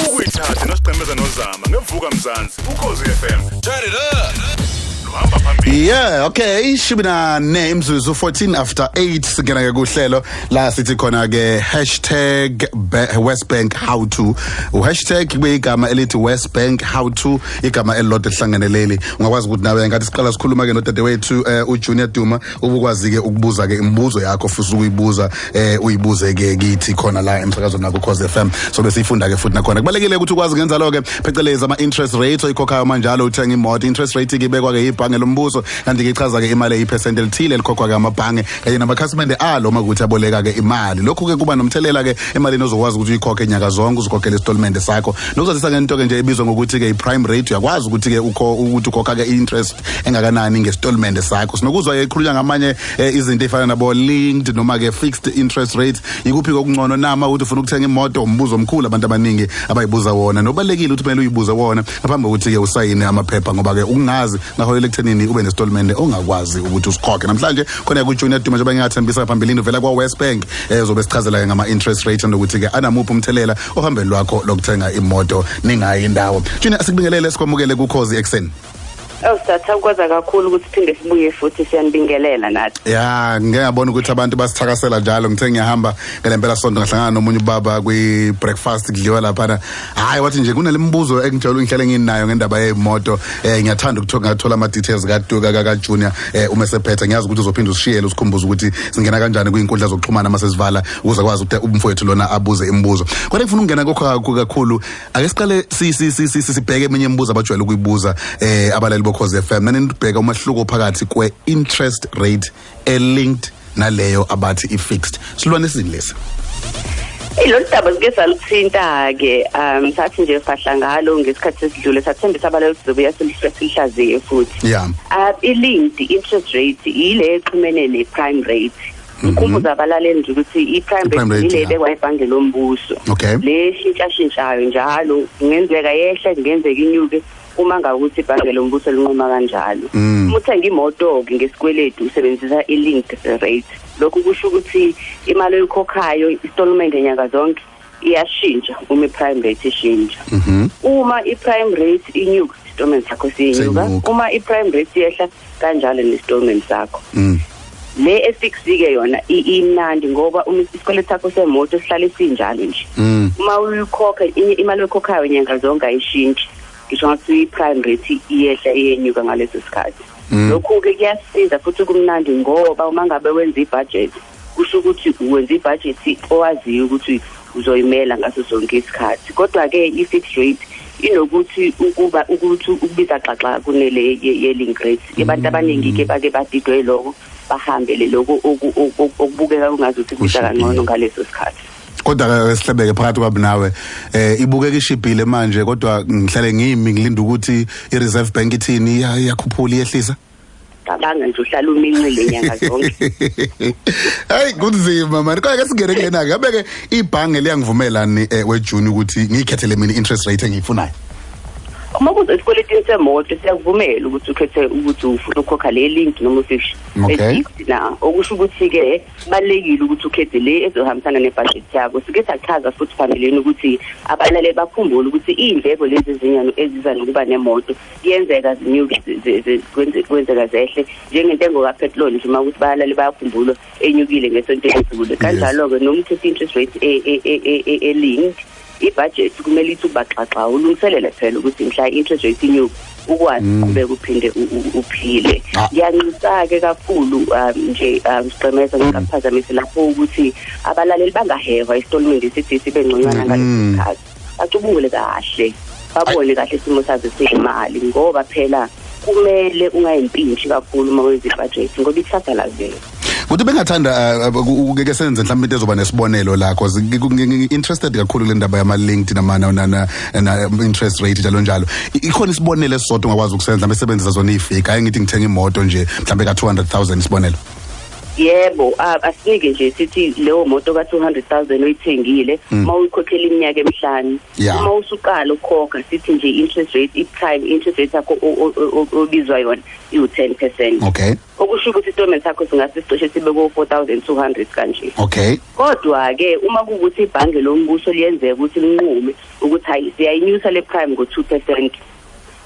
ukuyithatha nosiqemeza nozama ngevuka mzansi ukhozi FM turn it up luhamba phambili yeah okay ishumi nane imzuzu 14 after 8 singena ke kuhlelo la sithi khona ke hashtag ba- west bank how to uhashtag kube igama elithi west bank how to igama elilodwa elihlangene leli ungakwazi ukuthi nawe ngathi siqala sikhuluma ke nodadewethu eh, ujunior duma ubukwazike ukubuza ke imibuzo yakho futhi ukuyibuza eh uyibuze ke kithi khona la emsakazweni nakho cause FM so besifunda ke futhi nakhona kubalekile ukuthi ukwazi ngenza lo ke phecelezi ama interest rates oyikhokhayo manjalo uthenga imoto interest rate ke bekwa ke ibhange lombuso kanti ke ichaza ke imali eyipercent elithile elikhokhwa ke amabhange kanye namakhasimende alo makuthi aboleka ke imali lokhu ke kuba nomthelela ke emalini ozokwazi ukuthi uyikhokhe nyaka zonke uzikhokhele isitolmende sakho nokuzazisa ngento ke nje ebizwa ngokuthi ke i prime rate uyakwazi ukuthi ke ukho ukuthi ukhokha ke interest engakanani ngesitolimende sakho sinokuzwa ke ikhulunywa ngamanye eh, izinto efana nabo linked noma ke fixed interest rates yikuphi kokungcono nama ukuthi ufuna ukuthenga imoto umbuzo omkhulu abantu abaningi abayibuza wona nobalekile ukuthi kumele uyibuze wona ngaphambi kokuthi ke usayine amaphepha ngoba ke ukungazi ngaholela ekuthenini ube nesitolimende ongakwazi ukuthi usikhokhe namhlanje khona ku Junior Duma njengoba ngingathembisa ngaphambilini uvela kwa West Bank ezobe eh, sichazela ngama interest rates nokuthi ke anamuphi umthelela ohambeni lwakho lokuthenga imoto ningayi indawo Junior asikubingelele sikwamukele ku Khosi ekseni Awusatha kwaza kakhulu ukuthi phinde sibuye futhi siyanibingelela nathi. Ya, ngeke ngabona ukuthi abantu basithakasela njalo ngithe ngiyahamba ngelempela sonto ngahlangana nomunye ubaba kwi breakfast kudliwa lapha na. Hayi wathi nje kunalemibuzo engijela ungihlele nginayo ngendaba yemoto. Eh ngiyathanda ukuthola ngathola ama details ka Tuka ka Junior eh uma sephetha ngiyazi ukuthi uzophinda usishiyele usikhumbuza ukuthi singena kanjani kwinkundla zokuxhumana mase sivala ukuze kwazi ukuthi umfowethu lona abuze imibuzo. Kodwa ngifuna ukungena kokho kakhulu ake siqale sibheke eminye imibuzo abajwayele ukuyibuza eh abalali bokhoze FM nanibheka umahluko phakathi kwe interest rate e linked naleyo abathi i fixed silwane sini lesi Ilolu daba sike saluthinta ke um sathi nje fahla ngalo ngesikhathi esidlule sathembisa abale ukuzobuya silihlaziye futhi. Yeah. Uh, i linked interest rate ile exhumene ne prime rate. ngikhumbuza mhm. abalaleli nje ukuthi i-prime rate yile ebekwa ebhange lombuso le shintshashintshayo njalo kungenzeka yehle kungenzeka inyuke uma ngabe ukuthi ibhange lombuso linquma kanjalo mm. uma uthenga imoto-ke ngesikweletu usebenzisa i-linked rate lokhu kusho ukuthi imali oyikhokhayo istolment nyanga zonke iyashintsha uma i-prime rate ishintsha mhm. uma i-prime rate inyuka isitolment sakho siyenyuka uma i-prime rate yehla kanjalo nesitolment sakho mm. le efiksike yona imnandi ngoba uma isikweletu sakho semoto sihlale sinjalo nje mm. uma uyikhokha imali oyikhokhayo nyanga zonke ayishintshi ngisho ngathi i-prime rate iyehla iyenyuka ngaleso sikhathi mm. lokhu-ke kuyasiza futhi kumnandi ngoba uma ngabe wenza ibhajethi kusho ukuthi wenza ibhajethi owaziyo ukuthi uzoyimela ngaso sonke isikhathi kodwa-ke i-fixed rate inokuthi ukuba ukuthi ukubiza xaxa kunele ye-link rate abantu abaningi-ke bake badidwe loko bahambe le loko okubukeka kungazi ukuthi kusa kangcono ngaleso sikhathi kodwa-ke sihlebeke phakathi kwami nawe um ibukeka ishibhile manje kodwa ngihlale ngimi ngilinda ukuthi i-reserve bank ithini iyakhuphula iyehlisa cabanga nje uhlala umincile nyanga zonke hayi kunzima mani kodwa ke singene kulena-ke yabe-ke ibhange liyangivumelani um eh, wejuni ukuthi ngiyikhethele mina i-interest rate engiyifunayo uma kuze esikweletini semoto siyakuvumela ukuthi ukhethe ukuthi ufuna ukukhokha le link noma ufish okay. na okusho ukuthi-ke kubalulekile ukuthi ukhethe le ezohambisana nebhajethi yakho sike sachaza futhi phambilini ukuthi abalaleli bakhumbule ukuthi iy'ndleko lezi zinyano eziza nokuba nemoto kuyenzeka zinyuke kwenzeka zehle njengentengo kapetroli nje uma ukuthi bayalale bayakhumbulwa enyukile ngesonto elidlule kanjalo-ke noma uthethe interest rate e, e, e, elinked ibudget kumele ithi ubaxaxa ulungiselele phela ukuthi mhla i-interest rate inyuke ukwazi mm. uqhubeka uphinde uphile ah. ngiyanxisa-ke kakhulu um, nje um, sigqemeza ngikaphazamisi lapho ukuthi abalaleli bangahehwa isitolmende sithi sibe ngconywana ngalesi mm. sikhathi bacubungule kahle babone kahle isimo sazo seyimali ngoba phela kumele ungayimpintshi kakhulu uma wenza ibhajethi ngoba ikusasa lazela kodwa bengathanda eh, eh, ukeke senze mhlawumbe into ezoba nesibonelo la cause interested kakhulu kule ndaba yama linked nama na interest rate njalo njalo ikhona isibonelo esisodwa ongakwazi ukusenza mhlawumbe sebenzisa zona ifake hayi ngithi ngithenga imoto nje mhlawumbe ka 200000 isibonelo yebo asinike nje sithi leyo moto ka 200000 oyithengile hmm. uma uyikhokhela iminyaka emihlanu uma usuqala ukukhokha sithi nje interest rate if time interest rate yakho obizwa yona iwu 10% okay okusho ukuthi isitatimende sakho singase sicishe sibe ko 4200 kanje okay kodwa ke uma kukuthi ibhange lombuso liyenzeka ukuthi linqume ukuthi hayi siyayinyusa le prime ngo 2%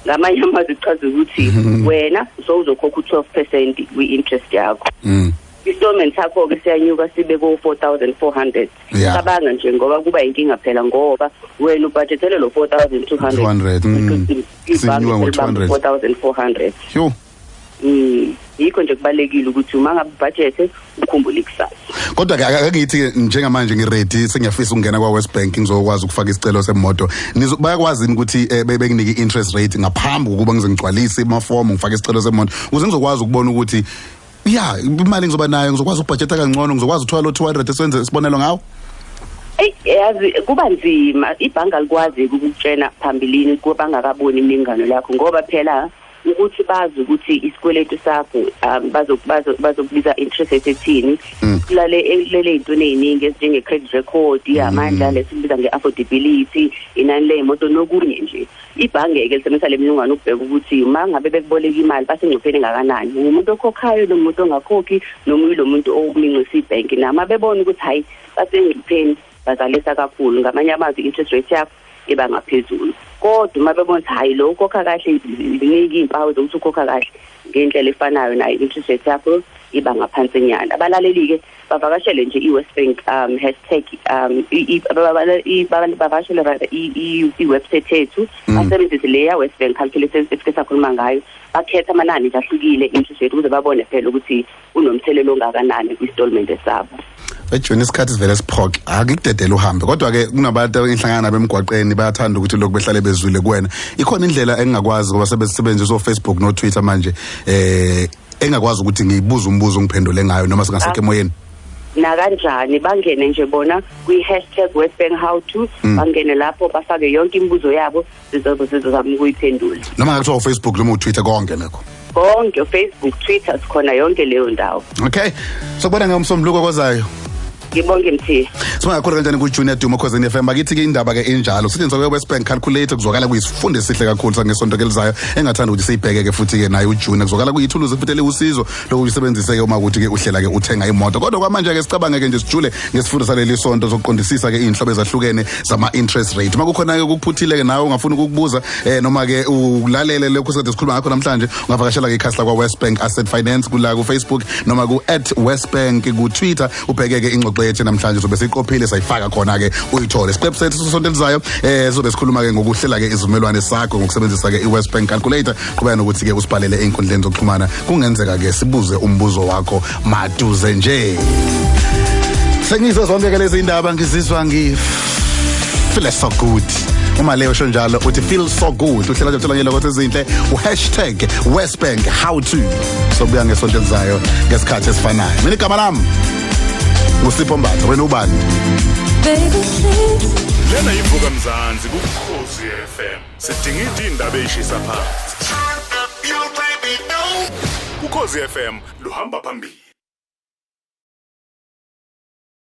ngamanye amazwi kuchaza ukuthi mhm. wena so uzokhokha u-12 percent kwi-interest yakho mm. istorment sakho-ke siyanyuka sibe ko-four thousand four hundred cabanga nje ngoba kuba yinkinga phela ngoba wena ubhajethele lo-four thousand two hundred mm. ibhange selibamba four thousand four hundred Mm. yikho nje kubalekile ukuthi uma ngabe budget ukhumbule ikusasa kodwa ke akangithi njengamanje ngiready sengiyafisa ukungena kwa West Bank ngizokwazi ukufaka isicelo semoto bayakwazi ukuthi eh, bekunike interest rate ngaphambi kokuba ngize ngigcwalise ama form ngifake isicelo semoto ukuze ngizokwazi ukubona ukuthi ya imali ngizoba nayo ngizokwazi ukubhajetha kangcono ngizokwazi ukuthola lo 200 esenze isibonelo ngawo yazi kuba nzima ibhanka likwazi ukukutshena phambilini kubangakaboni imingano lakho ngoba phela ukuthi bazi ukuthi isikweletu sakho um bazokubiza interest rate ethini mm. silale elele ey'ntweni ey'ningi ezinjenge-credit record mm. amandla lesikubiza nge-affordability inani ley'moto nokunye nje ibhange-ke lisebenzisa le mniningwane ukubheka ukuthi uma ngabe bekuboleka imali basengcupheni engakanani ngumuntu okhokhayo lo muntu ongakhokhi noma uyilo muntu omincisa ibhenki nama bebona ukuthi hhayi basengcupheni bazalisa kakhulu ngamanye amazwi i-interest rate yakho iba ngaphezulu kodwa uma bebona ukuthi hhayi lo ukhokha kahle ziningi iy'mpawu zokuthi ukhokha kahle ngendlela efanayo nayo i-interest rate yakho iba ngaphansinyana abalaleli-ke bavakashele nje i-west bank um hashtag um bavakashele i-website yethu mm. basebenzise le ya-west bank calculator esike sakhuluma ngayo bakhetha amanani nje ahlukile interest rate ukuze babone phela ukuthi unomthelela ongakanani kwi-stolmente sabo ejoni isikhathi sivele siphoke akikudedele uhambe kodwa-ke kunabantu engihlangana nabo emgwaqeni bayathanda ukuthi lokhu behlale bezwile kuwena ikhona indlela engingakwazi ngoba sebesebenzisa ofacebook notwitter manje eh engakwazi ukuthi ngiyibuze umbuzo ngiphendule ngayo noma singasekho emoyeni nakanjani bangene nje bona kwi-hashtag westbank how to mm. bangene lapho bafake yonke imibuzo yabo sizobe sizozama ukuyiphendula noma ngakuthiwa ufacebook noma utwitter konke nakho konke ufacebook twitter sikhona yonke leyo ndawo okay sokubona ngomsombuluko kozayo ngibonge mthiya singakhulu kanjani kujunior duma khosini fm bakithi ke indaba ke injalo sithi ngizoke west bank calculator kuzwakala kuyisifundo esihle kakhulu sangesonto ke lizayo engathanda ukuthi siyibheke ke futhi ke naye ujunior kuzwakala kuyithuluzi futhi eliwusizo lokhu kusebenziseke uma ukuthi ke uhlela ke uthenga imoto kodwa kwamanje ke sicabange ke nje sijule ngesifundo saleli sonto sokuqondisisa ke izinhlobo ezahlukene zama interest rate uma kukhona ke ukuphuthileyo ke nawe ungafuna ukukubuza eh noma ke ulalele lokho sade sikhuluma ngakho namhlanje ungavakashela ke ikhasi lakwa Westbank Asset Finance kula ku Facebook noma ku @westbank ku Twitter ubheke ke ingxoxo yethu namhlanje sobe siqophile sayifaka khona ke uyithole isiqephu sethu sosonto elizayo eh sobe sikhuluma ke ngokuhlela ke izivumelwane sakho ngokusebenzisa ke iWestbank calculator qhubeka nokuthi ke usibhalele einkundleni zokuxhumana kungenzeka ke sibuze umbuzo wakho maduze nje sengizo zonke ke lezi indaba ngizizwa ngi feel so good uma leyo sho njalo uthi feel so good uhlela nje utholakele ukuthi izinhle uHashtag #westbank how to sobuya ngesonto elizayo ngesikhathi esifanayo mina igama lami ngusipho mbatha wena ubani Baby, please. lena yivuka mzansi kukhozi fm sidinga iti indaba eyishisa phansi ukhozi fm luhamba phambili